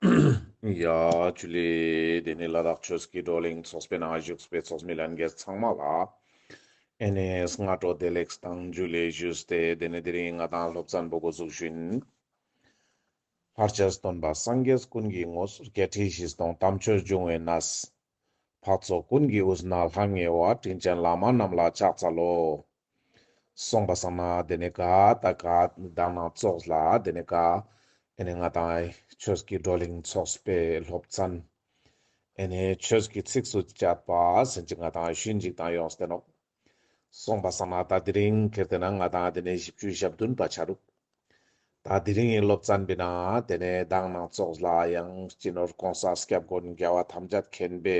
ཡ། ཆུ་ལས། དེ་ནས་ལ་དྭགས་ཆོས་སྐྱིད་བགྲོ་གླེང་ཚོགས་པའི་ནང་བཞུགས་པའི་ཚོགས་མི་ལྷན་རྒྱས་ཚང་མ་ལ། ཨེ་ནེ་ཨེས་སྔ་དྲོ་བདེ་ལེགས་སུ་དང་འཇུ་ལས་བཞུགས་ཏེ་དེ་ནས་དེ་རིང་ང་དང་སློབ་ཚན་པོ་འགོ་འཛུགས་བཞིན། ལྷར་བཅས་སུ་སྟོན་པ་སངས་རྒྱས་ཀུན་གྱི་ངོ་སོར་བརྒྱད་ཁྲི་བཞི་སྟོང་དམ་ཆོས་འབྱུང་བའི་ན། འཕགས་ཚོགས་ཀུན་གྱི་དབུས་ན་ལྷང་ངེ་བ་དྲིན་ཅན་བླ་མ་རྣམས་ལ་ཕྱག་འཚལ་ལོ། གསུངས་པ་སངས་ན་དེ་ནི་དགའ། དགའ་ནི་དག་སྣང་ཚོགས་ལ་དེ་ནི་དགའ། ཨེ་ནི་ང་དང་ཆོས་ཀྱི་བགྲོ་གླེང་ཚོགས་པའི་སློབ་ཚན། ཨེ་ནི་ཆོས་ཀྱི་ཚིགས་སུ་བཅད་པ་ཟིན་ཅིག་ང་དང་ཞུས་འཇིག་དང་ཡོངས་སུ་བསྟན་ནོ། སོང་བ་ས་མ་ད་དེ་རིང་ཁེར་དེ་ན་ང་དང་དེ་ནས་བཞི་བཅུ་ཞབས་བདུན་པ་ཆགས་འདུག་ད་དེ་རིང་ཡིན་ལོབས་ཙན་པི་ན་དེ་ནས་བདག་ནང་ཙོགས་ལ་ཡང་སྐྱི་ནོར་གོང་ས་སྐྱབས་མགོན་རྒྱལ་བ་ཐམས་ཅད་མཁྱེན་པས་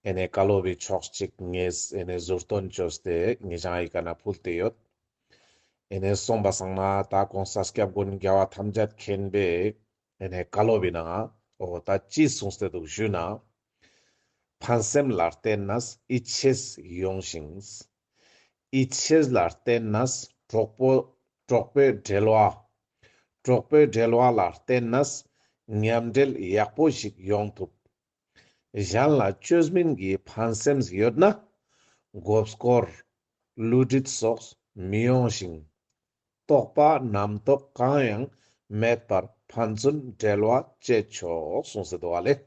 ཨེ་ནས་བཀའ་སློབ་བི་ཆོག་ཅིག་ངེས་ཨེ་ནས་ཟུར་སྟོན་བཅོས་ཏེ་ངེས་ཅང་ཡི་ག་ན་ཕུལ་དེ་ཡོད་ཨེ་ནས་སོང་བ་སང་མ་ད་གོང་ས་སྐྱབས་མགོན་རྒྱལ་བ་ཐམས་ཅད་མཁྱེན་པས་དེ་ནས་བཀའ་སློབ་ཡིན་ནའང་འོ་ད་ཅི་གསུང་ཟེར་འདུག་ཞུས་ན། ཕན་སེམས་ལ་བརྟེན་ན་ཨི་ཆེས་ཡོང་ཞིང། ཨི་ཆེས་ལ་བརྟེན་ན་གྲོགས་པོ་གྲོགས་པོའི་འབྲེལ་བ། གྲོགས་པོའི་འབྲེལ་བ་ལ་བརྟེན་ན་ཉམས་འབྲེལ་ཡག་པོ་ཞིག་ཡོང་ཐུབ། གཞན་ལ་བཅོས་མིན་གྱི་ཕན་སེམས་ཡོད་ན། འགོ་སྐོར། བསླུ་བྲིད་སོགས་མི་ཡོང་ཞིང། རྟོག་པ་རྣམ་རྟོག་གང་ཡང་མེད་པར་ཕན་ཚུན་འབྲལ་བ་བཅད་ཆོག་གསུངས་ཟེར་དུ་བ་ལས།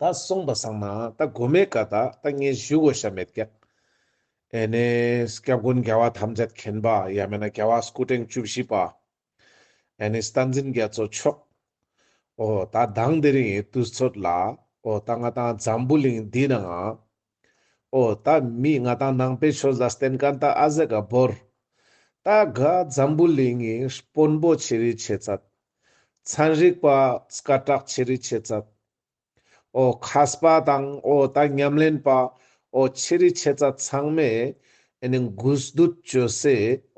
ད་གསུངས་པ་ཟང་མ་ད་དགོས་མེད་ཀ་ད་ད་ངས་ཞུ་གོ་ཤ་མེད་སྐད། ཨེ་ནས་སྐྱབས་མགོན་རྒྱལ་བ་ཐམས་ཅད་མཁྱེན་པ་ཡ་མེད་ན་རྒྱལ་བ་སྐུ་ཕྲེང་བཅུ་བཞི་པ་ཨེ་ནས་རྟ་འཛིན་རྒྱ་མཚོ་མཆོག་ཨོ་ད་གདངས་འདི་རིང་དུས་ཚོད་ལ་ཨོ་ད་ང་ད་འཛམ་བུ་གླིང་འདི་ནའང། ཨོ་ད་མིས་ང་དང་ནང་པའི་ཆོས་ལ་བསྟེན་ག་འདའ་ཨ་ཟེ་ག་བོར། ད་ག་འཛམ་བུ་གླིང་ངི་སྤོན་པོ་ཆེ་རི་ཆེ་ཚད། ཚན་རིག་པ་ཀ་བྲག་ཆེ་རི་ཆེ་ཚད། ཨོ་ཁ་སྤ་དང་ཨོ་ད་ཉམས་ལེན་པ་ཨོ་ཆེ་རི་ཆེ་ཚད་ཚང་མས་ཨེ་ནི་འགུལ་སྡུད་བྱོས་སེ་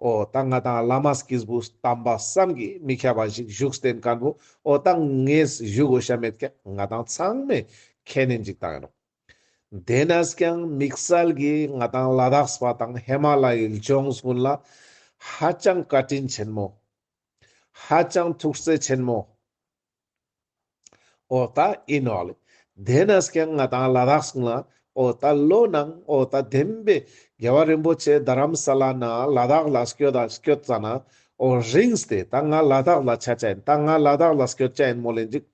ཨོ་ད་ང་དང་བླ་མ་སྐིས་བུ་དམ་པ་བསམ་གི་མི་ཁ་བ་ཞིག་བཞུགས་བསྟེན་ག་འདུག་ཨོ་ད་ངས་བཞུགས་འོས་ཤ་མེད་ཁ་ང་དང་ཚང་མས་ཁས་ནི་འཇིག་དང་ཡིན་རོགས། དེས་ན་སྐྱང་དམིགས་བསལ་གྱིས་ང་དང་ལ་དྭགས་པ་དང་ཧེ་མ་ལ་ཡི་ལྗོངས་ཀུན་ལ་ཧ་ཅང་བཀའ་དྲིན་ཆེན་མོ། ཧ་ཅང་ཐུགས་བརྩེ་ཆེན་མོ། ཨོ་ད་ཨི་ནོ་ལི། དེས་ན་སྐྱང་ང་དང་ལ་དྭགས་ཀུན་ལ་ཨོ་ད་ལོ་ནང་ཨོ་ད་བདེན་པའི་རྒྱལ་བ་རིན་པོ་ཆེ་རྡ་རམ་ས་ལ་ན་ལ་དྭགས་ལ་སྐྱོ་ད་སྐྱོ་ཙ་ན་ཨོ་རིངས་ཏེ་ད་ང་ལ་དྭགས་ལ་ཆ་ཅན་ད་ང་ལ་དྭགས་ལ་སྐྱོ་ཅན་མོ་ལེ་འཇིགས།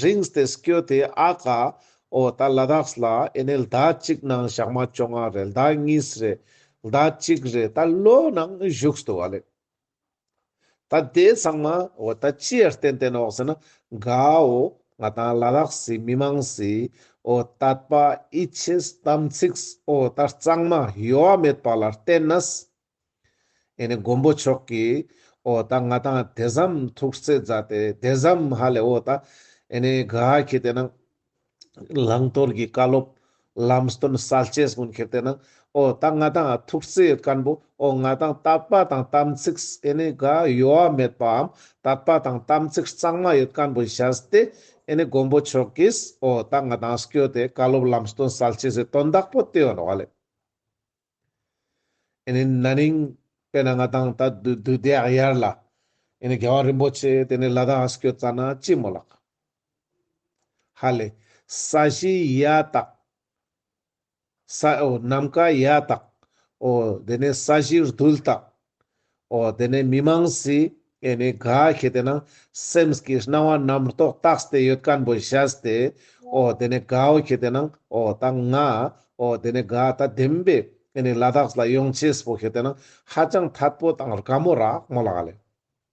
རིངས་ཏེ་སྐྱོ་སྟེ་ཨ་ཀ། ཨོ་ད་ལ་དྭགས་ལ་ཨེ་ནས་ཟླ་གཅིག་ནང་ཞག་མ་བཅོ་ལྔ་རེད་ཟླ་གཉིས་རེད་ཟླ་གཅིག་རེད་ད་ལོ་ནང་བཞུགས་སྟུ་བ་ལེགས། ད་དེ་ཚང་མ་ཨོ་ད་ཅི་ཡར་བསྟན་བསྟན་ཨོག་ཟེར་ན་དགའ་ཨོ་ང་དང་ལ་དྭགས་སི་མི་མང་སི་ཨོ་ད་པ་ཨི་ཆེས་དམ་ཚིགས་ཨོ་ད་གཙང་མ་ཡོ་བ་མེད་པ་ལ་བསྟན་ནས་ཨེ་ནི་མགོན་པོ་མཆོག་གིས་ཨོ་ད་ང་དང་དེ་ཟམ་ཐུགས་བརྩེ་མཛའ་སྟེ་དེ་ཟམ་ཧ་ལས་ཨོ་ད་ཨེ་ནི་ག་ཧ་ཁྱེད་དེ་ནང་བླང་དོར་གྱི་བཀའ་སློབ་ལམ་སྟོན་གསལ་བྱེད་སྔོན་ཁྱེད་དེ་ནང་ཨོ་ད་ང་དང་ཐུགས་བརྩེ་སྐལ་པོ་ཨོ་ང་དང་བརྟག་པ་དང་དམ་ཚིག་ཨེ་ནི་ག་ཡོ་བ་མེད་པའམ་བརྟག་པ་དང་དམ་ཚིག་གཙང་མ་ཡོད་སྐལ་པོ་མཛའ་སྟེ་ཨེ་ནི་མགོན་པོ་མཆོག་གིས་ཨོ་ད་ང་དང་སྐྱོ་དེ་བཀའ་སློབ་ལམ་སྟོན་གསལ་བྱེད་ཟེར་དོན་བདག་པོ་དེ་ཨོ་ན་བ་ལས། ཨེ་ནི་ན་ནིང། དཔེར་ན་ང་དང་ད་དུས་དུས་དེ་ཨ་ཡར་ལ། ཨེ་ནི་རྒྱལ་བ་རིན་པོ་ཆེ་དེ་ནི་ལ་དྭགས་སུ་བསྐྱོད་ཙ་ན་ཅི་མོ་ལགས། ཧ་ལས། ས་གཞི་ཡ་དྭགས། ས་ཨོ་ནམ་མཁའ་ཡ་དྭགས། ཨོ་དེ་ནི་ས་གཞི་རྡུལ་དྭགས། ཨོ་དེ་ནས་མི་མང་སི་ཨེ་ནི་ག་ཤེས་དེ་ན་སེམས་ཀྱི་སྣང་བ་རྣམ་རྟོག་རྟགས་སྟེ་ཡོད་སྐམ་པོ་བཞག་སྟེ་ཨོ་དེ་ནས་གའོ་ཤེས་དེ་ན་ཨོ་ད་ང་ཨོ་དེ་ནས་ག་ད་བདེན་པས་ཨེ་ནི་ལ་དྭགས་ལ་ཡོང་ཆེས་པོ་ཤེས་དེ་ན་ཧ་ཅང་ཐད་པོ་དང་ར་མོ་ར་མོ་ལ་ག་ལས།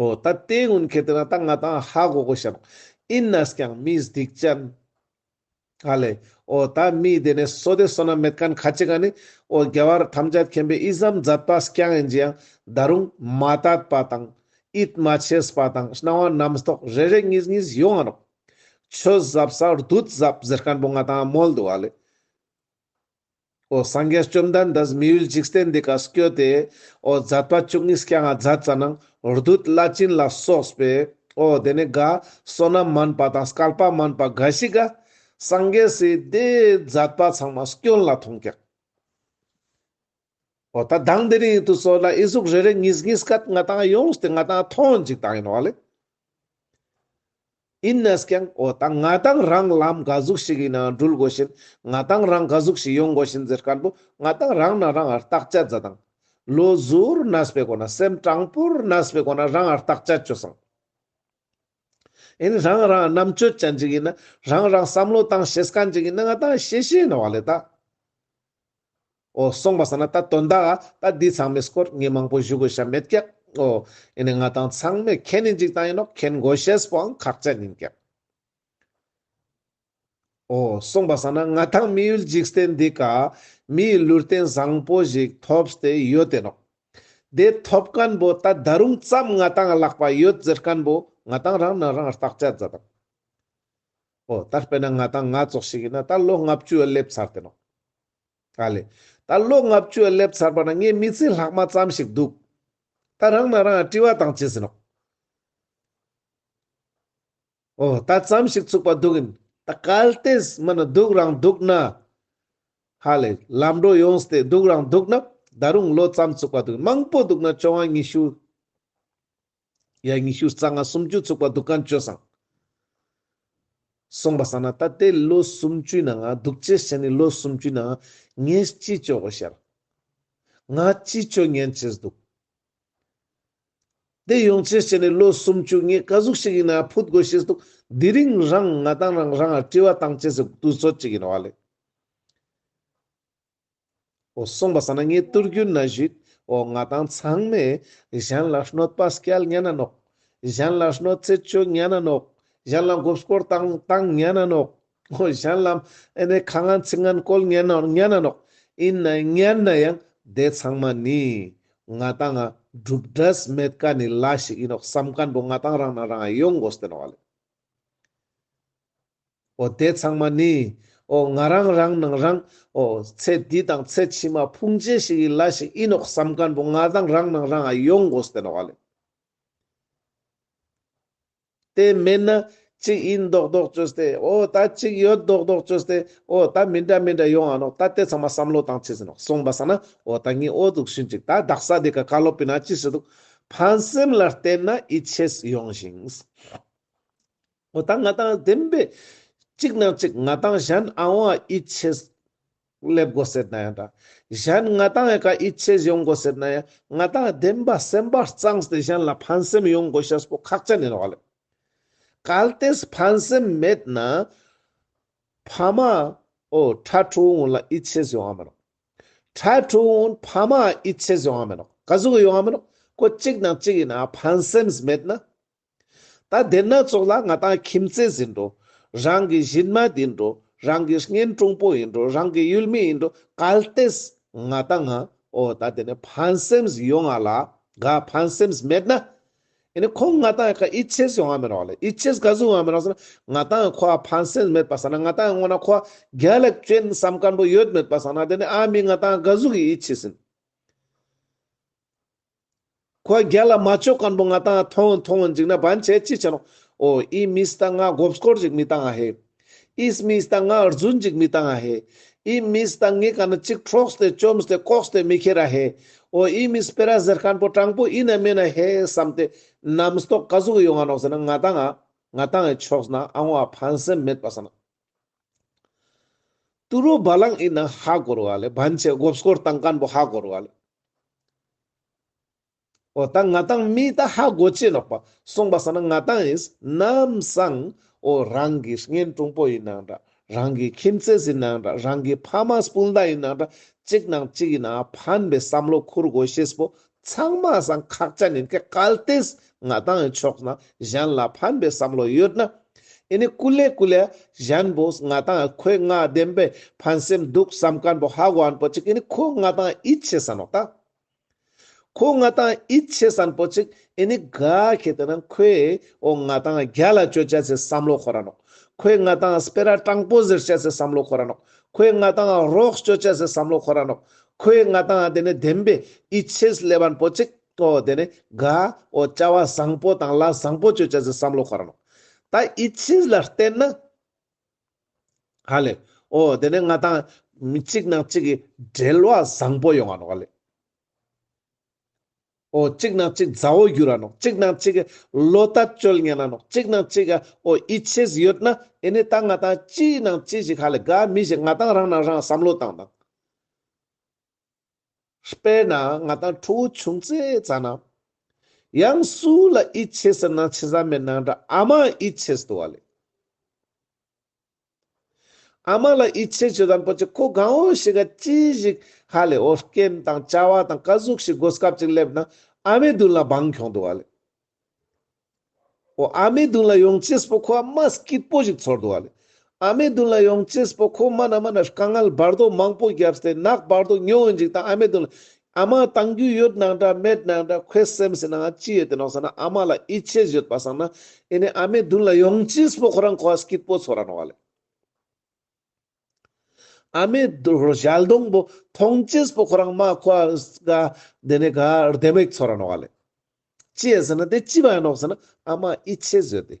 ཨོ་ད་ལྟའི་སྔོན་ཁེ་ཏི་ན་ད་ང་དང་ཧ་གོ་གོ་ཞབས་ཨིན་ནས་ཀྱང་སྨིས་སྡིག་ཅན། ཨ་ལེ། ཨོ་ད་སྨིས་དེ་ནས་སོ་དེ་སོ་ན་མེད་གན་ཁ་ཅི་ག་ནི་ཨོ་རྒྱ་བར་ཐམས་ཅད་མཁྱེན་པའི་ཨི་ཟམ་ཛད་པ་སྐྱང་ཨེན་ཇི་ཡང་ད་རུང་མ་དད་པ་དང་ཨིད་མ་ཆེས་པ་དང་སྣང་བ་རྣམས་རྟོག་རེ་རེ་གཉིས་གཉིས་ཡོང་ཨ་རོགས། ཆོས་ཟབ་ས་རྡུལ་ཟབ་ཟེར་གན་པོ་ང་དང་མོལ་འདུག་ཨ་ལེ། ཨོ་སངས་རྒྱས་བཅོམ་ལྡན་འདས་སྨིན་ཡུལ་འཇིག་རྟེན་འདི་ཀར་སྐྱོལ་ཏེ། ཨོ་བརྫད་པ་བཅུ་གཉིས་སྐྱེ་ལྔ་བརྫད་རྩ་ནང་རྡུལ་བླ་བྱིན་ལ་སོགས་པའི། ཨོ་དེ་ནས་དགའ་བསོད་ནམས་མནན་པ་དང་སྐལ་པ་མནན་པ་འགའ་ཞིག། སངས་རྒྱས་སྲིད་བརྫད་པ་ཚང་མ་སྐྱོན་ལ་མཐོང་བཀྱག། ཨོ་ད་གདངས་འདི་རིང་དུ་སོ་ལ་ཨི་གཟུགས་རེ་རེ་ངིས་ངིས་སྐད་ང་དང་ཡོང་སྟེ་ང་དང་ཐོན་ཅིག་དང་ཡིན་བ་ལས། ཡིན་ནས་ཀྱང་ཨོ་ད་ང་དང་རང་ལམ་ག་གཟུགས་ཞིག་ཡིན་ནའང་འགྲུལ་དགོས་ཤིན་ང་དང་རང་ག་གཟུགས་ཞིག་ཡོང་དགོས་ཤིན་ཟེར་དཀར་པོ་ང་དང་རང་ན་རང་ཨར་རྟགས་དཔྱད་རྫ་དང། ལོ་ཟུར་ན་སྤེ་གོ་ན་སེམས་དྲང་པོར་ན་སྤེ་གོ་ན་རང་ཨར་རྟགས་དཔྱད་བཅོས་སང། ཡིན་རང་རང་རྣམ་དཔྱོད་ཅན་ཅིག་ཡིན་ན་རང་རང་བསམ་བློ་དང་ཤེས་སྐལ་ཅིག་ཡིན་ན་ང་དང་ཤེས་ཤེས་ཡིན་བ་ལས་ད། ཨོ། སོང་བ་ཟ་ན་ད་དོན་དག་ཨ། ད་འདི་ཚང་མས་སྐོར་ངེས་མང་པོ་བཞུ་དགོས་ཤ་མེད་སྐད། ཨོ། ཨེ་ནས་ང་དང་ཚང་མས་ཁྱེད་ནི་འཇིག་ཐང་ཡིན་ནོ་ཁྱེད་མགོ་ཤེས་པོའང་ཁག་ཅན་ཡིན་སྐད། ཨོ། སོང་བ་ཟ་ན་ང་དང་མི་ཡུལ་འཇིག་སྟེ་འདི་ག། མི་ཡི་ལུས་རྟེན་བཟང་པོ་ཞིག་ཐོབ་སྟེ་ཡོད་དེ་ནོ། དེ་ཐོབ་སྐན་པོ་ད་ད་རུང་ཙམ་ང་དང་ལག་པ་ཡོད་ཟེར་སྐན་པོ་ང་དང་རང་ནི་རང་རྟགས་ཅད་མཛའ་དང། ཨོ་ད་དཔེར་ན་ང་དང་ང་ཚོ་ཞིག་ཡིན་ན་ད་ལོ་ལྔ་བཅུ་བསླེབས་ཚར་དེ་ནོ། ཨ་ལེ། ད་ལོ་ལྔ་བཅུ་བསླེབས་ཚར་བ་ན་ངའི་མི་ཚེའི་ལྷག་མ་ཙམ་ཞིག་འདུག་ད་རང་ནང་རང་བཀྲི་བ་དང་བྱས་ཟིན་ནོ། ཨོ་ད་ཙམ་ཞིག་ཚུགས་པ་འདུག་གིན་ད་གལ་ཏེ་མི་ནི་སྡུག་རང་འདུག་ན། ཧ་ལེ། ལམ་འགྲོ་ཡོང་སྟེ་སྡུག་རང་འདུག་ན་ད་རུང་ལོ་ཙམ་ཚུགས་པ་འདུག་གིན་མང་པོ་འདུག་ན་བཅོ་ལྔ་ཉི་ཤུ། ཡས་ཉི་ཤུ་རྩ་ལྔ་སུམ་ཅུ་ཚུགས་པ་གདུགས་གང་བཅོལ་བཟང། གསུངས་པ་བསམ་ན་ད་ལྟའི་ལོ་སུམ་ཅུའི་ནང་ང་གདུགས་བཅལ་བྱས་ནས་ལོ་སུམ་ཅུའི་ནང་ངས་ཅི་བཅོལ་བ་ཤར། ང་ཅི་བཅོལ་ཉན་བྱེད་འདུག། དེ་ཡོང་བྱས་བྱས་ནས་ལོ་སུམ་ཅུ་ངས་དཀའ་གཟུགས་ཤིག་ཡིན་ན་ཕུད་དགོས་བྱས་འདུག་དེ་རིང་རང་ང་དང་རང་རང་ལ་དཀྲི་བ་བཏང་བྱས་སུ་དུས་ཚོད་ཅིག་ཡིན་བ་ལས། གསུངས་པ་ས་ན་ངའི་བསྟོད་རྒྱུན་ན་བཞུགས། ང་དང་ཚང་མས་གཞན་ལ་གནོད་པ་སྐྱེལ་སྙན་ན་ནོག། གཞན་ལ་གནོད་འཚེ་བྱོས་སྙན་ན་ནོག། གཞན་ལ་འགོབ་སྐོར་བཏང་བཏང་སྙན་ན་ནོག། གཞན་ལ་ཨེ་ནས་ཁ་ངན་ཚིག་ངན་བཀོལ་སྙན་ན་སྙན་ན་ནོག། ཡིན་ན་སྙན་ན་ཡང་དེ་ཚང་མ་ནི། ང་དང་འབྲུག་སྒྲས་མེད་ཀ་ནི་ལ་ཞིག་ཡིན་ནོག་བསམ་ག་འདུག་ང་དང་རང་ན་རང་ཡོང་དགོས་ཏེ་ནོག། ཨོ་དེ་ཚང་མ་ནི། ཨོ་ང་རང་རང་ནང་རང། ཨོ། ཚེ་འདི་དང་ཚེ་ཕྱི་མ་ཕུང་བྱེད་ཞིག་ཡིན་ལ་ཞིག་ཡིན་ནོག་བསམ་ཁར་བུ་ང་དང་རང་ནང་རང་ཨ་ཡོང་དགོས་ཟེར་ནོག་ཨ་ལེ། དེ་མེད་ན། གཅིག་ཡིན་མདོག་མདོག་བཅོས་ཏེ་ཨོ་ད་གཅིག་ཡོད་མདོག་མདོག་བཅོས་ཏེ་ཨོ་ད་མི་འདྲ་མི་འདྲ་ཡོང་ཨ་ནོག་ད་དེ་ཚང་མ་བསམ་བློ་བཏང་བྱས་ཟེར་ནོག་སོང་བ་ས་ན་ཨོ་ད་ངའི་ཨོ་འདུག་ཤུན་ཅིག་ད་བདག་ས་དེ་ག་བཀའ་སློབ་པི་ན་ཅི་ཞིག་འདུག། ཕན་སེམས་ལ་བལྟས་ན་ཨི་ཆེས་ཡོང་ཞིང། ངོ་དང་ང་དང་ལྡན་པའི། གཅིག་ནང་གཅིག་ང་དང་གཞན་ཨང་བ་ཨི་ཆེས། སླེབས་དགོས་ཟེར་ན་ཡང་འདྲ། གཞན་ང་དང་ཡང་ཀ་ཨི་ཆེས་ཡོང་དགོས་ཟེར་ན་ཡང་ང་དང་ལྡན་པ་སེམས་པ་གཙང་སྟེ་གཞན་ལ་ཕན་སེམས་ཡོང་དགོས་ཤ་སྤོ་ཁག་ཅན་ཡིན་བ་ལས། གལ་ཏེས་ཕན་སེམས་མེད་ན། ཕ་མ། ཨོ། ཁྲ་ཁྲོ་འོང་ལ་ཨི་ཆེས་ཡོང་བ་མིན་རོགས། ཁྲ་ཁྲོ་འོང་ཕ་མ་ཨི་ཆེས་ཡོང་བ་མིན་རོགས། ག་ཟུག་ཡོང་བ་མིན་རོགས། ཁོ་གཅིག་ནང་གཅིག་ཡིན་ཨ་ཕན་སེམས་མེད་ན། ད་དེ་སྣ་ཚོགས་ལ་ང་དང་ཁྱིམ་མཚེས་ཟིན་འགྲོ། རང་གི་གཞིན་མ་འདི་འགྲོ། རང་གི་བརྔན་ཀྲུང་པོ་ཡིན་འགྲོ་རང་གི་ཡུལ་མི་ཡིན་འགྲོ་གལ་ཏེས་ང་དང་ང་འོ་ད་དེ་ནས་ཕན་སེམས་ཡོང་ང་ལ་ག་ཕན་སེམས་མེད་ན་ཨེ་ནས་ཁོང་ང་དང་ག་ཡིད་ཆེས་ཡོང་ང་མི་རོགས་ལ་ཡིད་ཆེས་ག་ཟུག་ང་མི་རོགས་ཟེར་ན་ང་དང་ཁོ་བ་ཕན་སེམས་མེད་པ་ཟེར་ན་ང་དང་སྔོ་ན་ཁོ་བ་རྒྱ་ལ་སྐྱོན་བསམ་སྐམ་པོ་ཡོད་མེད་པ་ཟེར་ན་དེ་ནས་ཨ་མི་ང་དང་ག་ཟུག་ཡིད་ཆེས་ཟིན། ཁོ་རྒྱལ་ལ་མ་ཅོ་སྐམ་པོ་ང་ཏང་ཐོང་མཐོང་འཇིག་ན་བན་ཆད་ཅི་བྱ་རུང་ཨོ་ཨི་མི་སྟ་ང་སྒོབ་སྐོར་འཇིག་མི་ཏང་ཨ་ཧེ། ཨི་སྨི་སྟ་ང་རྫུན་འཇིག་མི་ཏང་ཨ་ཧེ། ཨི་སྨི་སྟ་ངི་ག་ན་ཅིག་ཁྲོག་སྟེ་བཅོམ་སྟེ་ལྐོག་སྟེ་མི་ཁྱེར་ཨ་ཧེ། ཨོ་ཨི་མི་སྤེ་ར་ཟེར་སྐམ་པོ་སྤྲང་པོ་ཨི་ན་སྨིན་ཨ་ཧེ་བསམ་སྟེ་ནམ་སྟོགས་ཀ་ཟུག་ཡོང་ང་ནོག་ཟེར་ན་ང་ཏང་ཨ་ང་ཏང་ཨའི་ཕྱོགས་སུ་ན་ཨ་ངོ་ཨ་ཕན་སེམས་མེད་པ་ས་ན། ཏུ་རུ་བ་ལང་ཨི་ན་ཧ་གོར་བ་ལས་བན་ཆེ་སྒོབས་སྐོར་དང་སྐམ་པོ་ཧ་གོར་བ་ལས། འོ་ད་ང་དང་མི་ད་ཧ་གོ་ཅི་ནོག་པ་སོང་པ་ས་ན་ང་དང་ཨིས་ནམ་སང་འོ་རང་གི་བརྔན་ཀྲུང་པོ་ཡིན་ནང་འདྲ་རང་གི་ཁྱིམ་ཚེས་ཡིན་ནང་འདྲ་རང་གི་ཕ་མ་སྤུན་ཟླ་ཡིན་ནང་འདྲ་གཅིག་ནང་གཅིག་ཡིན་ཨ་ཕན་པའི་བསམ་བློ་འཁུར་དགོས་ཤེས་པོ་ཚང་མ་ཟངས་ཁག་ཅག་ནི་དེ་གལ་ཏེས་ང་དང་ཡི་ཕྱོགས་ན་གཞན་ལ་ཕན་པའི་བསམ་བློ་ཡོད་ན། ཡི་ནི་ཀུ་ལེ་ཀུ་ལེ་གཞན་པོ་ང་དང་ཡི་ཁོའི་ང་བདེན་པའི་ཕན་སེམས་འདུག་བསམ་ཀན་པོ་ཧ་གོ་ཨན་པོ་ཅིག་ཡི་ནི་ཁོ་ང་དང་ཡིད་ཆེས་ས་ནོག་ད། ཁོ་ང་དང་ཡིད་ཆེས་ཨན་པོ་ཅིག་ཡི་ནི་ག་གེ་དེ་ན་ཁོས་ཨོ་ང་དང་རྒྱ་ལ་སྤྱོད་བྱ་སའི་བསམ་བློ་ཁོ་ར་ནོག་ཁོས་ང་དང་སྤེ་ར་སྤྲང་པོ་ཟེར་བྱ་སའི་བསམ་བློ་ཁོ་ར་ནོག་ཁོས་ང་དང་རོགས་སྤྱོད་བྱ་སའི་བསམ་བློ་ཁོ་ར་ནོག་ཁོའི་མངའ་ཐང་དེ་ནི་བདེན་པའི་ཨི་ཆེས་ལེ་བར་པོ་ཅིག་གོ་དེ་ནི་དགའ་བོ་བྱ་བ་བཟང་པོ་དང་ལ་བཟང་པོ་སྤྱོད་བྱ་ཟི་བསམ་བློ་འཁོར་ནོ། ད་ཨི་ཆེས་ལ་བརྟེན་ན། ཧ་ལེ་ཨོ་དེ་ནི་མངའ་ཐང་མི་གཅིག་ནང་གཅིག་གི་འབྲེལ་བ་བཟང་པོ་ཡོང་བ་ནོ་ཨ་ལེ། ཨོ་གཅིག་ན་གཅིག་མཛའ་བོ་གྱུར་ར་ནོ་གཅིག་ན་གཅིག་ལོ་ལྟ་སྤྱོད་ཉན་ར་ནོ་གཅིག་ན་གཅིག་ཨོ་ཡིད་ཆེས་ཡོད་ན་ཨེ་ནི་ད་ང་དང་ཅིའི་ནང་ཅི་ཞིག་ཧ་ལས་ག་མི་ཞིག་ང་དང་རང་ནང་རང་བསམ་བློ་བཏང་དང། དཔེར་ན་ང་དང་ཁྲོ་བོ་ཆུང་ཙེ་ཙ་ན། ཡང་སུ་ལ་ཡིད་ཆེས་ཟེར་ན་ཆི་ཟ་མའི་ནང་འདྲ་ཨ་མ་ཡིད་ཆེས་དུ་བ་ལས། ཨ་མ་ལ་ཡིད་ཆེས་བྱེད་དམ་ཕོ་ཆེ་ཁོ་གང་བོ་ཞིག་ག་ཅི་ཞིག་ཧ་ལས་ཨོ་རྐྱེན་དང་བཅའ་བ་དང་བཀའ་ཟུག་ཞིག་སྒོ་སྐབས་ཅིག་སླེབས་ན་ཨ་མའི་མདུན་ལ་འབངས་གྱོང་འདུག་བ་ལས། ཨོ་ཨ་མའི་མདུན་ལ་ཡོང་ཆེས་པོ་ཁོ་ཨ་མ་སྐྱིད་པོ་ཞིག་ཚོར་འདུག་བ་ལས། ཨ་མའི་མདུན་ལ་ཡོང་ཆེས་པོ་ཁོ་སྨ་ན་སྨ་ན་དཀའ་ངལ་བར་དོ་མང་པོ་བརྒྱབ་སྟེ་ནག་པར་དུ་སྨྱོ་འོན་ཅིག་དང་ཨ་མའི་མདུན་ལ་ཨ་མ་དང་རྒྱུས་ཡོད་ནང་འདྲ་མེད་ནང་འདྲ་ཁོའི་སེམས་སུ་ནང་ཅི་ཡོད་དེ་ནོག་ས་ན་ཨ་མ་ལ་ཡིད་ཆེས་ཡོད་པ་སང་ན་ཨེ་ནས་ཨ་མའི་མདུན་ལ་ཡོང་ཅི་སྤོ་ཁོ་རང་ཁོ་ཨ་སྐྱིད་པོ་ཚོ་ར་ནོག་ལེ། ཨ་མའི་ཞལ་གདོང་པོ་མཐོང་ཅི་སྤོ་ཁོ་རང་མ་ཁོ་ཨ་ག་འདི་ནས་ག་ལྡེ་མིག་ཚོ་ར་ནོག་ལེ། ཅི་ཡོད་ས་ན་དེ་ཅི་བ་ཡིན་ནོག་ས་ན་ཨ་མ་ཡིད་ཆེས་ཡོད་དེ།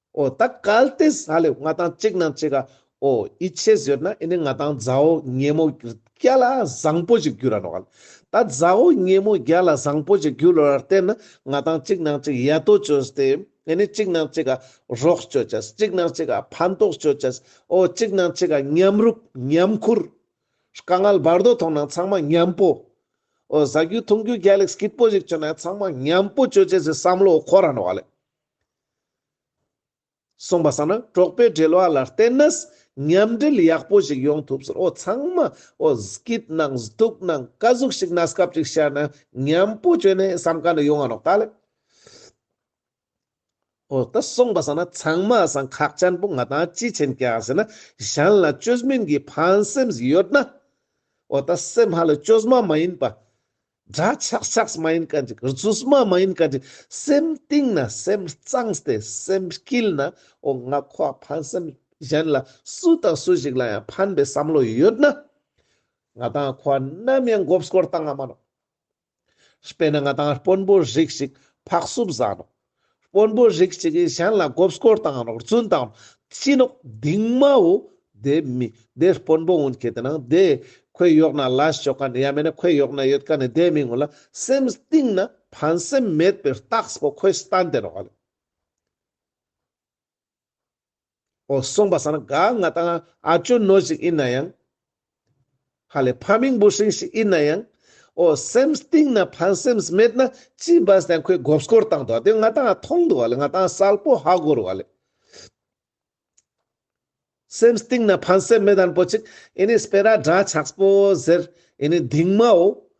ཨོ་ད་གལ་ཏེ་ས་ལེ་ང་དང་གཅིག་ན་གཅིག་ག་ཨོ་ཨི་ཆེ་ཟེར་ན་ཨི་ནི་ང་དང་ཛའོ་སྙེ་མོ་བརྒྱ་ལ་བཟང་པོ་ཞིག་རྒྱུ་ར་ནོ་གལ་ད་ཛའོ་སྙེ་མོ་བརྒྱ་ལ་བཟང་པོ་ཞིག་རྒྱུ་ལོ་ར་བརྟེན་ན་ང་དང་གཅིག་ན་གཅིག་ཡ་ཏོ་བཅོས་ཏེ་ཨི་ནི་གཅིག་ན་གཅིག་ག་རོགས་བཅོས་བྱས་གཅིག་ན་གཅིག་ག་ཕན་ཐོགས་བཅོས་བྱས་ཨོ་གཅིག་ན་གཅིག་ག་མཉམ་རུབ་མཉམ་ཁུར་དཀའ་ངལ་བར་དོ་མཐོང་ན་ཚང་མ་མཉམ་པོ་ཨོ་ཟ་རྒྱུ་འཐུང་རྒྱུ་བརྒྱ་ལེགས་སྐྱིད་པོ་ཞིག་བྱུང་ན་ཚང་མ་མཉམ་པོ་བཅོས་བྱས་ཟེར་བསམ་བློ་འཁོར་ར་ནོ་གལ། གསུངས་པ་ས་ནང་གྲོགས་པོའི་འབྲེལ་བ་ལ་བརྟེན་ན་མཉམ་འབྲེལ་ཡག་པོ་ཞིག་ཡོང་ཐུབ་ཟེར་འོ་ཚང་མ་འོ་སྐིད་ནང་སྡུག་ནང་དཀའ་གཟུགས་ཤིག་ན་སྐབས་ཅིག་བཤད་ན་མཉམ་པོ་བྱོས་ནས་བསམ་ག་ན་ཡོང་ང་རོག་ད་ལེ། འོ་ད་གསུངས་པ་ས་ན་ཚང་མ་ས་ཁག་ཅན་པོ་ང་དང་ཅི་བྱེད་མཁན་ཟེར་ན་གཞན་ལ་བཅོས་མིན་གྱི་ཕན་སེམས་ཡོད་ན་འོ་ད་སེམས་ཧ་ལས་བཅོས་མ་མ་ཡིན་པ། འདྲ་ཆགས་ཆགས་མ་ཡིན་ག་འདྲི་གར་ཚུགས་མ་མ་ཡིན་ག་འདྲི་སེམས་གཏིང་ན་སེམས་གཙང་སྟེ་སེམས་སྐྱིལ་ན་འོ་ང་ཁོ་ཨ་ཕ་སེམས་གཞན་ལ་སུ་དང་སུ་ཞིག་ལ་ཡང་ཕན་པའི་བསམ་བློ་ཡོད་ན། ང་དང་ཨ་ཁོ་ཨ་ནམ་ཡང་འགོབས་སྐོར་བཏང་ཨ་མ་རུང། དཔེར་ན་ང་དང་ཨ་དཔོན་པོ་རིགས་ཞིག་ཕག་སུབ་བཟའ་རུང། དཔོན་པོ་རིགས་གཅིག་གིས་གཞན་ལ་སྒོབ་སྐོར་དང་རོགས་བརྩོན་དང་སྤྱི་ནོག་གདིང་མའོ། དེ་མི་དེ་དཔོན་པོ་ངོ་མཁས་དེ་ན་དེ་ཁོས་ཡོག་ན་ལ་ཞོག་ག་ནི་ཡ་མེད་ན་ཁོས་ཡོག་ན་ཡོད་ག་ནི་དེ་མི་ངོ་ལ་སེམས་གཏིང་ན་ཕན་སེམས་མེད་པའི་རྟགས་པོ་ཁོས་བསྟན་དེ་རོགས་ལ། ཨོ། སོང་པ་ཟ་ན་དགའ་ང་དང་ཨ་ཅོ་ནོར་ཞིག་ཨེ་ན་ཡང། ཧ་ལས་ཕ་མིང་འབུ་ཧྲེང་ཞིག་ཨེ་ན་ཡང། ཨོ། སེམས་གཏིང་ན་ཕན་སེམས་མེད་ན་ཅི་འབའ་ཟད་ཁོས་དགོབ་སྐོར་བཏང་འདུག་དེ་ང་དང་ཨ་མཐོང་འདུག་བ་ལས་ང་དང་གསལ་པོ་ཧ་གོ་རུ་བ་ལས། སེམས་གཏིང་ན་ཕན་སེམས་མེད་ཨན་པོ་ཅིག་ཨེ་ནི་སྤེ་ར་འདྲ་ཆགས་པོ་ཟེར་ཨེ་ནི་སྡིག་མ་ཨོ།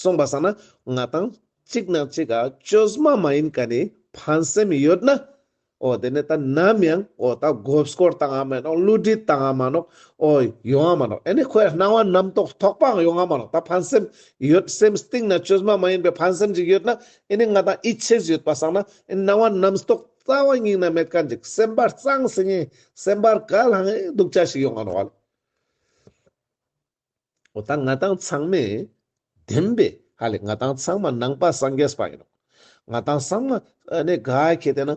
གསུངས་པ་བསམ་ན་ང་དང་གཅིག་ན་གཅིག་ག་ཅོས་མ་མ་ཡིན་ག་ནི་ཕན་སེམས་ཡོད་ན་ཨོ་དེ་ནས་ད་ནམ་ཡང་ཨོ་ད་དགོད་སྐོར་བཏང་ཨ་མ་ནོག་བསླུ་བྲིད་བཏང་ཨ་མ་ནོག་ཨོ་ཡོང་ཨ་མ་ནོག་ཨེ་ནས་ཁོའི་སྣང་བ་རྣམ་རྟོག་ཐོག་པའང་ཡོང་ཨ་མ་ནོག་ད་ཕན་སེམས་ཡོད་སེམས་གཏིང་ན་ཅོས་མ་མ་ཡིན་པའི་ཕན་སེམས་ཅིག་ཡོད་ན་ཨེ་ནས་ང་དང་ཨི་ཆེས་ཡོད་པ་བསམ་ན་ཨེ་ནས་སྣང་བ་རྣམ་རྟོག་རྩ་བ་སྙིང་ན་མེད་ག་འཇིག་སེམས་པ་གཙང་སེང་ངེ་སེམས་པར་ག་ལྷང་ངེ་སྡུག་ཅག་ཞིག་ཡོང་ཨ་མ་ནོག་ཨ་ལས། འོ་ད་ང་དང་ཚང་མས་བདེན་པས་ཧ་ལས་ང་དང་ཚང་མ་ནང་པ་སངས་རྒྱས་པ་ཡིན་ནོ། ང་དང་ཚང་མ་ནས་དགའ་ཁེ་དེ་ན་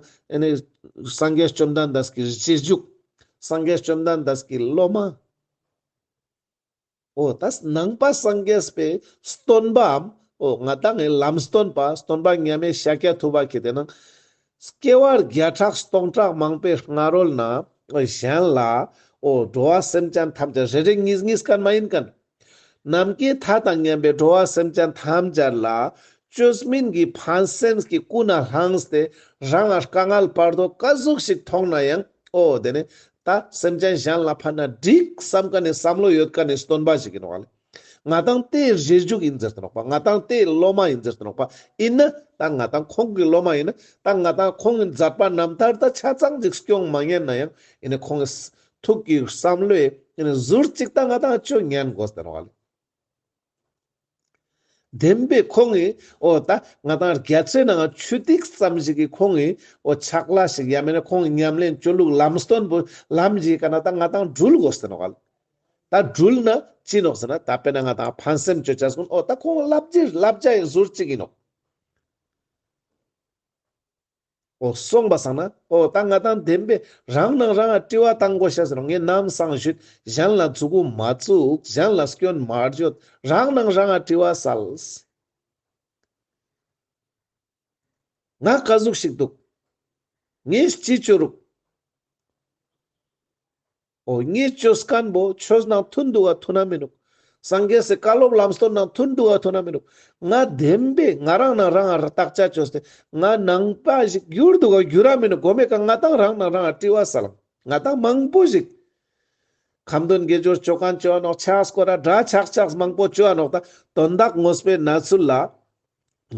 སངས་རྒྱས་བཅོམ་ལྡན་འདས་ཀྱི་རྗེས་འཇུག་སངས་རྒྱས་བཅོམ་ལྡན་འདས་ཀྱི་སློབ་མ། འོ་ད་ནང་པ་སངས་རྒྱས་པའི་སྟོན་པའམ་འོ་ང་དང་ངའི་ལམ་སྟོན་པ་སྟོན་པ་མཉམ་མེད་ཤཱཀྱ་ཐུབ་པ་ཁེ་དེ་ན། སྐྱེ་བ་བརྒྱ་ཕྲག་སྟོང་ཕྲག་མང་པོའི་སྔ་རོལ་ན། གཞན་ལ། འོ་འགྲོ་བ་སེམས་ཅན་ཐམས་ཅད་རེ་རེ་གཉིས་གཉིས་གར་མ་ཡིན་ཀན། ནམ་མཁའི་མཐའ་དང་མཉམ་པའི་འགྲོ་བ་སེམས་ཅན་ཐམས་ཅད་ལ། བཅོས་མིན་གྱི་ཕན་སེམས་ཀྱི་སྐུ་ན་ལྷང་སྟེ། རང་ངར་དཀའ་ངལ་སྤར་དོ་དཀའ་གཟུགས་ཤིག་མཐོང་ན་ཡང། འོ་དེ་ནས། ད་སེམས་ཅན་གཞན་ལ་ཕན་ན་འགྲིག་བསམ་ཀ་ནས་བསམ་བློ་ཡོད་ཀ་ནས་སྟོན་པ་ཞིག་ཡིན་བ་ལས། ང་དང་དེའི་རྗེས་འཇུག་ཡིན་ཟེར་དུ་རོགས་པ་ང་དང་དེའི་སློབ་མ་ཡིན་ཟེར་དུ་རོགས་པ་ཡིན་ན་ད་ང་དང་ཁོང་གི་སློབ་མ་ཡིན་ན་ད་ང་དང་ཁོང་གི་མཛའ་པ་རྣམ་ཐར་ད་ཆ་ཚང་གཅིག་སྐྱོང་མ་ཉན་ན་ཡང་ཡིན་ནའི་ཁོང་གི་ཐུགས་ཀྱི་བསམ་བློའི་ཟུར་གཅིག་ད་ང་དང་ཁྱོད་ཉན་དགོ་ཟེར་བ་ལས། བདེན་པའི་ཁོང་གི་འོ་ད་ང་དང་རྒྱ་ཆེ་ནའང་ཆུ་ཐིགས་ཙམ་ཞིག་གི་ཁོང་གི་འོ་ཆགས་གླ་ཞིག་ཡ་མེད་ན་ཁོང་གི་ཉམས་ལེན་སྤྱོད་ལུགས་ལམ་སྟོན་པོ་ལམ་བཞི་ག་ན་ད་ང་དང་སྦྲུལ་དགོ་ཟེར་བ་ལས། ད་སྦྲུལ་ནི་ཅི་ནོ་ཟེར་ན་ད་དཔེར་ན་ང་དང་ཕ་སེམས་གཅོད་བྱས་གསུངས་ཨོ་ད་ཁོང་བསླབ་རྒྱུའི་བསླབ་བྱ་ཡིན་ཟུར་གཅིག་ཡིན་ནོ། ཨོ་གསུངས་པ་སང་ན་ཨོ་ད་ང་དང་ལྡན་པས་རང་ནང་རང་དཀྲི་བ་དང་གོ་ཤ་ཟེར་ངས་ནམ་སང་ཞུས་གཞན་ལ་འཛུགས་མ་བཙུགས་གཞན་ལ་སྐྱོན་མ་བརྗོད་རང་ནང་རང་དཀྲི་བ་སལ། ང་བཀའ་གཟུགས་ཤིག་འདུག་ངས་སྤྱི་བཅོས་རུག། ཨོ་རྙེད་ཆོས་སྐམ་པོ་ཆོས་ནང་ཐུན་བསྡུ་བ་ཐུ་ན་མི་འདུག་སངས་རྒྱས་སུ་བཀའ་སློབ་ལམ་སྟོན་ནང་ཐུན་བསྡུ་བ་ཐུ་ན་མི་འདུག་ང་བདེན་པས་ང་རང་ནང་རང་ཨར་བརྟག་དཔྱད་བྱོས་ཏེ་ང་ནང་པ་ཞིག་གྱུར་འདུག་ག་གྱུར་ར་མི་འདུག་གོ་མེད་ཀ་ང་དང་རང་ནང་རང་ཨར་བཀྲི་བ་ས་ལམ་ང་དང་མང་པོ་ཞིག་ཁམས་དོན་དགེ་སྦྱོར་སྤྱོད་གང་སྤྱོད་ནོག་ཆགས་སྐོར་ར་དགྲ་ཆགས་ཆགས་མང་པོ་སྤྱོད་ནོག་ད་དོན་དག་ངོ་སྤེལ་ན་ཚུལ་ལ་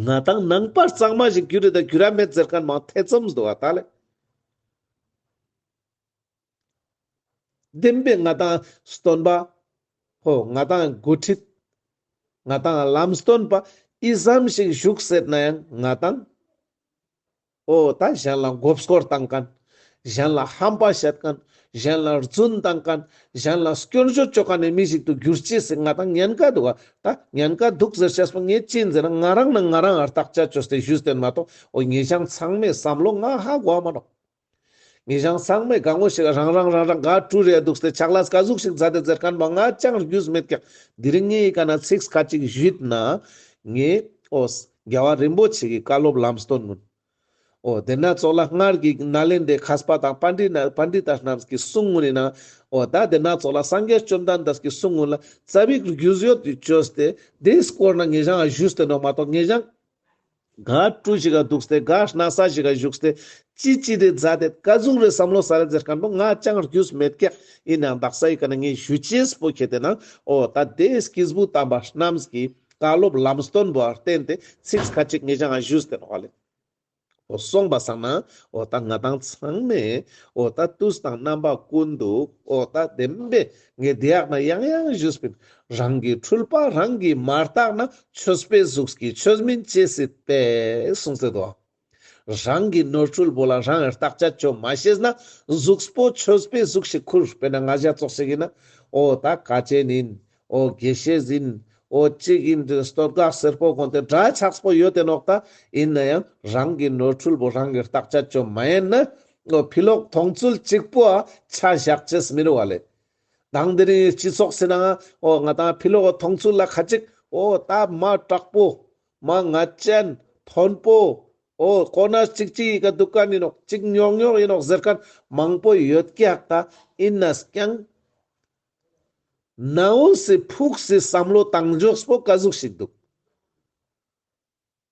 ང་དང་ནང་པ་གཙང་མ་ཞིག་གྱུར་རི་ད་གྱུར་ར་མེད་ཟེར་མཁན་མང་ཐེ་ཚོམ་བཟོ་བ་ད་ལས། བདེན་པའི་མངའ་ཐང་སྟོན་པ་ཕོ་མངའ་ཐང་མགོ་ཁྲིད། མངའ་ཐང་བླ་མ་སྟོན་པ་ཨི་ཟམ་ཞིག་བཞུགས་ཟེར་ན་ཡང་མངའ་ཐང། ཨོ་ད་གཞན་ལ་འགོ་བསྐོར་བཏང་གིན། གཞན་ལ་ཧམ་པ་བྱེད་གིན། གཞན་ལ་རྫུན་བཏང་གིན། གཞན་ལ་སྐྱོན་བརྗོད་བཅོག་ག་ནས་མི་ཞིག་ཏུ་གྱུར་ཅི་སྲིད་མངའ་ཐང་ཉན་ག་འདུག་ཨ་ད་ཉན་ག་འདུག་ཟེར་བྱས་པ་ངས་ཅི་འཛིན་ན་ང་རང་ནི་ང་རང་ཨར་བརྟག་དཔྱད་བཅོས་ཏེ་ཞུས་བསྟན་མ་གཏོགས་ཨོ་ངེད་ཅག་ཚང་མས་བསམ་བློ་ང་ཧ་གོ་བ་མ་གཏོགས། ངེད་གཞང་བསང་མའི་སྒང་ངོ་ཞིག་རང་རང་རང་རང་དགའ་སྤྲོའི་རེད་འདུག་སྟེ་ཆགས་ལ་སྐ་གཟུགས་ཤིག་བཟའ་སྟེ་མཛེར་ཁང་མ་ལྔ་རྐྱང་བརྒྱུས་མེད་ཀྱང་འདི་རིང་ངའི་ཡི་ག་ན་ཚིགས་ཁ་གཅིག་བཞུད་ན། ངས། ཨོ། རྒྱལ་བ་རིན་པོ་ཆེ་གི་བཀའ་སློབ་ལམ་སྟོན་ནོ། ཨོ། དེ་ན་ཚོགས་ལ་སྔར་གྱི་ནཱ་ལེནྡྲའི་ཁཱ་སྤ་དང་པཱ་འདྲི་ནཱ Pandita རྣམས་ཀྱི་གསུང་ངུ་ནི་ན། ཨོ། ད་དེ་ན་ཚོགས་ལ་སངས་རྒྱས་བཅོམ་ལྡན་འདས་ཀྱི་གསུང་ངུ་ལ་རྩ་བའི་བརྒྱུད་བཟོད་བཅོས་ཏེ་དེའི་སྐོར་ན་ངེད་གཞང་ལ་བཞུས་ཏེ་ནོ་མ་གཏོགས་ངེད་གཞང་དགའ་སྤྲོ་ཞིག་ག་འདུག་སྟེ་དགའ་སྣང་ས་ཞིག་ག་བཞུགས་སྟེ། ཅི་ཅི་རེད་རྫ་དེ་དཀའ་ཟུག་རེད་བསམ་བློ་ས་རེད་ཟེར་ག་འདུག་ང་ཅང་རྒྱུས་མེད་སྐད་ཡིན་ནའང་དག་ས་ཡི་ག་ནས་ངས་ཞུ་ཆེས་པོ་ཁྱེད་དེ་ན་འོ་ད་ལྟའི་སྐིས་བུ་དམ་པ་རྣམས་ཀྱིས་བཀའ་སློབ་ལམ་སྟོན་པར་བརྟེན་ཏེ་ཚིགས་ཁ་ཅིག་ངས་ཅང་ང་ཞུས་ཟེར་བ་ལས། འོ་གསུངས་པ་བསམ་ན་འོ་ད་ང་དང་ཚང་མས་འོ་ད་དུས་དང་རྣམ་པ་ཀུན་ཏུ་འོ་ད་བདེན་པའི་ངའི་བདེ་ཡག་ན་ཡང་ཡང་བཞུགས་པས་རང་གི་འཁྲུལ་པ་རང་གིས་མ་བརྟགས་ན་ཆོས་དཔེ་གཟུགས་ཀྱི་ཆོས་མིན་ཅེས་སྲིད་པས་གསུངས་སྲིད་དོ། རང་གི་ནོར་འཁྲུལ་པོ་ལ་རང་བརྟག་དཔྱད་བཅོས་མ་ཤེས་ན་གཟུགས་པོ་ཆོས་དཔེ་གཟུགས་ཞིག་ཁུར་དཔེར་ན་ང་བཞག་བཙོག་ཞིག་ཡིན་ན་ཨོ་ད་དཀའ་སྤྱད་ནིན་ཨོ་དགེ་བཤེས་ཟིན་ཨོ་གཅིག་ཡིན་དུས་སྟོད་འགག་སེར་པོ་དགོན་དེ་འདྲ་ཆགས་པོ་ཡོད་དེ་ནོག་ད་ཡིན་ན་ཡང་རང་གི་ནོར་འཁྲུལ་པོ་རང་གིས་བརྟག་དཔྱད་བཅོས་མ་ཡེན་ན་ནོར་འཕེལ་ལོག་མཐོང་ཚུལ་གཅིག་པུ་ཆ་བཞག་བྱེད་མི་རུང་བ་རེད། དང་འདི་རིང་སྤྱི་ཚོགས་སེ་ན་ང་དང་འཕེལ་ལོག་མཐོང་ཚུལ་ལ་ཁ་ཅིག་ད་མ་དྲག་པོ། མ་ང་ཅན། མཐོན་པོ། ཁོ་ན་གཅིག་གཅིག་ཡི་ག་སྡུག་ག་ཡིན་ནོག་གཅིག་ཉོག་ཉོག་ཡིན་ནོག་ཟེར་མཁན་མང་པོ་ཡོད་ཀྱི་ཧ་ཀ་ཡིན་ན་ཀྱང། ནའུ་སི་ཕུགས་སི་བསམ་བློ་བཏང་འཇོག་པོ་ག་ཟུག་ཞིག་འདུག།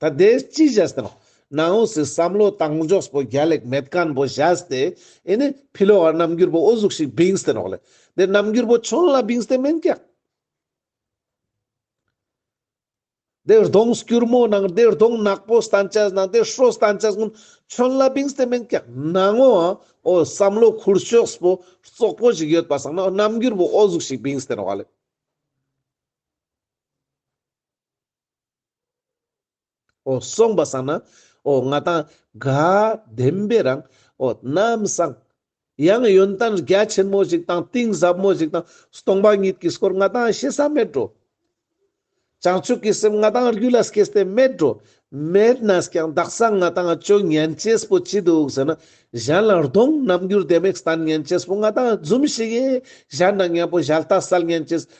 ད་ལྟའི་སྤྱི་བཞག་དང་གནའ་བོ་སའི་བསམ་བློ་བཏང་འཇོག་པོ་རྒྱ་ལེགས་མེད་སྐམ་པོ་བཞག་སྟེ་ཨེ་ནི་ཕི་ལོ་བར་རྣམ་འགྱུར་པོ་ཨོ་གཟུགས་ཤིག་བིངས་ཏེ་རོགས་ལེ་དེ་རྣམ་འགྱུར་པོ་ཆོན་ལ་བིངས་ཏེ་མེན་ཀྱང། དེ་རྡོང་སྐྱུར་མོ་ནང་དེ་རྡོང་ནག་པོ་སྟན་ཆ་ནང་དེ་ཧྲོ་སྟན་ཆ་སྔོན་ཆོན་ལ་བིངས་ཏེ་མེན་ཀྱང་གནའ་བོ་ཨོ་བསམ་བློ་ཁུར་ཕྱོགས་པོ་བཙོག་པོ་ཞིག་ཡོད་པ་སང་ན་རྣམ་འགྱུར་པོ་ཨོ་གཟུགས་ཤིག་བིངས་ཏེ་རོགས་ལེ། ཨོ་གསུངས་པ་བསམ་ན། ཨོ་ང་དང། དགའ་ལྡན་པའི་རང། ཨོ་རྣམ་བཟང། ཡང་ཡོན་ཏན་རྒྱ་ཆེན་མོ་ཞིག་དང་གཏིང་ཟབ་མོ་ཞིག་དང་སྟོང་པ་ཉིད་ཀྱི་སྐོར་ང་དང་ཤེས་ས་མེད་འགྲོ། བྱང་ཆུབ་ཀྱི་སེམས་ང་དང་རྒྱུད་ལ་སྐྱེས་ས་དེ་མེད་འགྲོ། མེད་ན་ཀྱང་བདག་སང་ང་དང་སྤྱོད་ངན་སྐྱེས་པོ་ཅི་འདུག་ཟེར་ན། གཞན་ལ་རྡུང་རྣམ་འགྱུར་ལྡེ་མིག་ལྟ་ངན་སྐྱེས་པོ་ང་དང་འཛུམ་ཞིག་ཡེ། གཞན་ལ་ངན་པོ་བཞག་ལྟ་གསལ་ངན་སྐྱེས།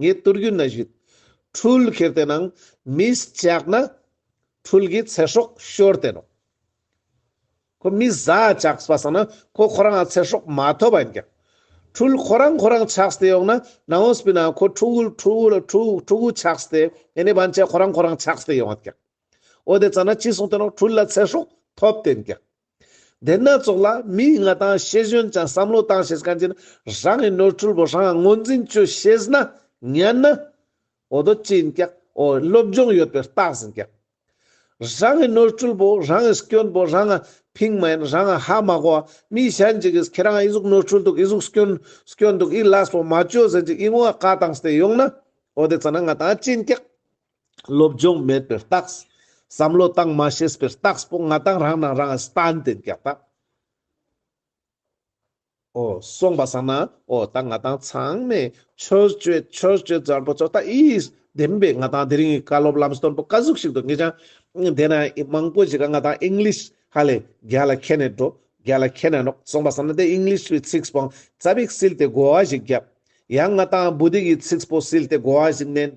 ངས་བསྟོད་རྒྱུ་ན་གཞུད་འཕྲུལ་ཁྱེར་དེ་ནང་མི་སྐྱག་ན་འཕྲུལ་གྱི་ཚེ་སྲོག་ཤོར་དེ་རོ། ཁོ་མི་བཟའ་ཆགས་པ་སོང་ན་ཁོ་ཁོ་རང་ལ་ཚེ་སྲོག་མ་ཐོབ་པ་ཡིན་ཀྱང། འཕྲུལ་ཁོ་རང་ཁོ་རང་ཆགས་དེ་ཡོང་ན་ནང་བོ་སྤི་ན་ཁོ་ཕྲུ་གུ་ཕྲུ་གུ་ལ་ཕྲུ་ཕྲུ་གུ་ཆགས་དེ་ཡིན་ནས་བན་ཆད་ཁོ་རང་ཁོ་རང་ཆགས་དེ་ཡོང་ཀྱང། འོ་དེ་ཙམ་ན་ཅི་གསུང་དེ་རང་འཕྲུལ་ལ་ཚེ་སྲོག་ཐོབ་དེ་ཡིན་ཀྱང། སྡེ་སྣ་ཚོགས་ལ་མིའི་མངའ་ཐང་ཤེས་གཞོན་ཅང་བསམ་བློ་བཏང་ཤེས་གང་ཅི་ན་རང་གི་ནོར་འཁྲུལ་བོ་རང་ངོ་འཛིན་བཅོས་ཤེས་ན་ཉན་ན་འོ་དོ་ཅི་ཡིན་ཀྱག་འོ་སློབ་སྦྱོང་ཡོད་པའི་རྟགས་ཟིན་ཀྱག། རང་གི་ནོར་འཁྲུལ་བོ་རང་གི་སྐྱོན་བོ་རང་ང་ཕིང་མ་ཡིན་རང་ང་ཧ་མ་གོ་བ་མིའི་ཞན་ཅིག་གིས་ཁྱེད་རང་ང་ཨི་གཟུགས་ནོར་འཁྲུལ་འདུག་ཨི་གཟུགས་སྐྱོན་སྐྱོན་འདུག་ཨི་ལས་བོ་མ་བཅོས་ཟེར་ཅིག་ཨི་ངོ་ང་ཀ་དང་ཟེར་ཡོང་ན་འོ་དེ་ཚ་ན་ང་དང་ཅི་ཡིན་ཀྱག། སློབ་སྦྱོང་མེད་པའི་རྟགས། བསམ་བློ་བཏང་མ་ཤེས་པའི་རྟགས་སྤོ་ང་དང་རང་ནང་རང་ཨེ་སྟན་དེ་རྒྱག་ད། ཨོ། སོང་པ་སང་ན་ཨོ་ད་ང་དང་ཚང་མས་ཆོས་སྤྱོད་ཆོས་སྤྱོད་འཛར་པོ་ཚོ་ད་ཨིས་བདེན་པས་ང་དང་དེ་རིང་གི་བཀའ་སློབ་ལམ་སྟོན་པོ་བཀའ་ཟུག་ཞིག་ཏུ་ངེས་ཅང་དེ་ན་ཨི་མང་པོ་ཞིག་ག་ང་དང English ཧ་ལས་རྒྱ་ལ་ཁྱེད་ནས་འགྲོ་རྒྱ་ལ་ཁྱེད་ནས་ནོག་སོང་པ་སང་ན་དེ English བའི་ཚིགས་སྤོང་རྩ་བིག་སིལ་ཏེ་གོ་བ་ཞིག་རྒྱབ་ཡང་ང་དང་བུ་དིག་གི་ཚིགས་སྤོ་སིལ་ཏེ་གོ་བ་ཞིག་མནན།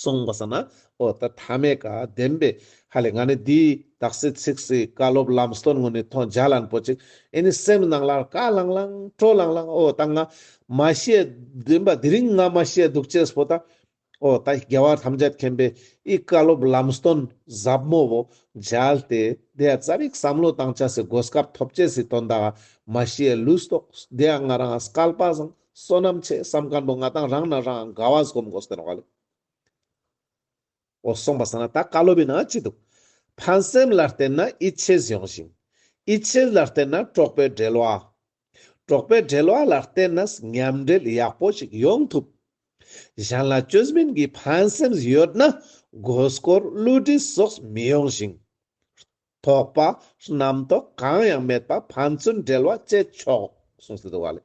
གསུངས་པ་ས་ན་ཨོ་ད་ཐ་མའི་བཀའ་བདེན་པས་ཧ་ལས་ང་ནི་འདི་དག་སྲིད་ཚིག་སྲིད་བཀའ་སློབ་ལམ་སྟོན་ངོ་ནས་ཐོ་འཇག་ལན་པོ་ཅིག་ཨེ་ནི་སེམས་ནང་ལ་བཀའ་བླང་བླང་སྤྲོ་བླང་བླང་ཨོ་ད་ང་མ་ཤེས་བདེན་པ་འདི་རིང་ང་མ་ཤེས་འདུག་ཅེས་པོ་ད་ཨོ་ད་རྒྱལ་བ་ཐམས་ཅད་མཁྱེན་པའི་ཨི་བཀའ་སློབ་ལམ་སྟོན་ཟབ་མོ་བོ་འཇལ་ཏེ་དེ་ཡང་རྩ་རིག་བསམ་བློ་དང་བཅས་སི་སྒོ་སྐབས་ཐོབ་བྱས་སི་དོན་དག་མ་ཤེས་ལུས་རྟོགས་དེ་ཡང་ང་རང་བསྐལ་པ་བཟང། བསོད་ནམས་ཆེ་བསམ་གང་དུ་ང་དང་རང་ན་རང་དགའ་བ་སྒོམ་དགོས་ཟེར་བ་ལས། འོ་སོང་བ་ཟེར་ན་ད་བཀའ་སློབ་ཡིན་ན་ཅི་འདུག། ཕན་སེམས་ལ་བརྟེན་ན་ཨི་ཆེས་ཡོང་ཞིང། ཨི་ཆེས་ལ་བརྟེན་ན་གྲོགས་པའི་འབྲེལ་བ། གྲོགས་པའི་འབྲེལ་བ་ལ་བརྟེན་ན་ཉམས་འབྲེལ་ཡག་པོ་ཞིག་ཡོང་ཐུབ། གཞན་ལ་སྐྱོན་མིན་གྱི་ཕན་སེམས་ཡོད་ན་དགོས་སྐོར་བསླུ་བྲིད་སོགས་མི་ཡོང་ཞིང། དོགས་པ་རྣམ་རྟོག་གང་ཡང་མེད་པ་ཕན་ཚུན་འབྲེལ་བ་བཅད་ཆོག་གསུངས་ཟིན་འདུག་བ་ལས།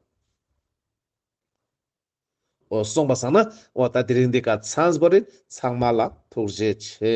འོ་གསུངས་པ་བཟང་ན་འོ་ད་དེ་རིང་འདི་ག་ཚངས་པོ་རི་ཚང་མ་ལ་ཐུགས་རྗེ་ཆེ།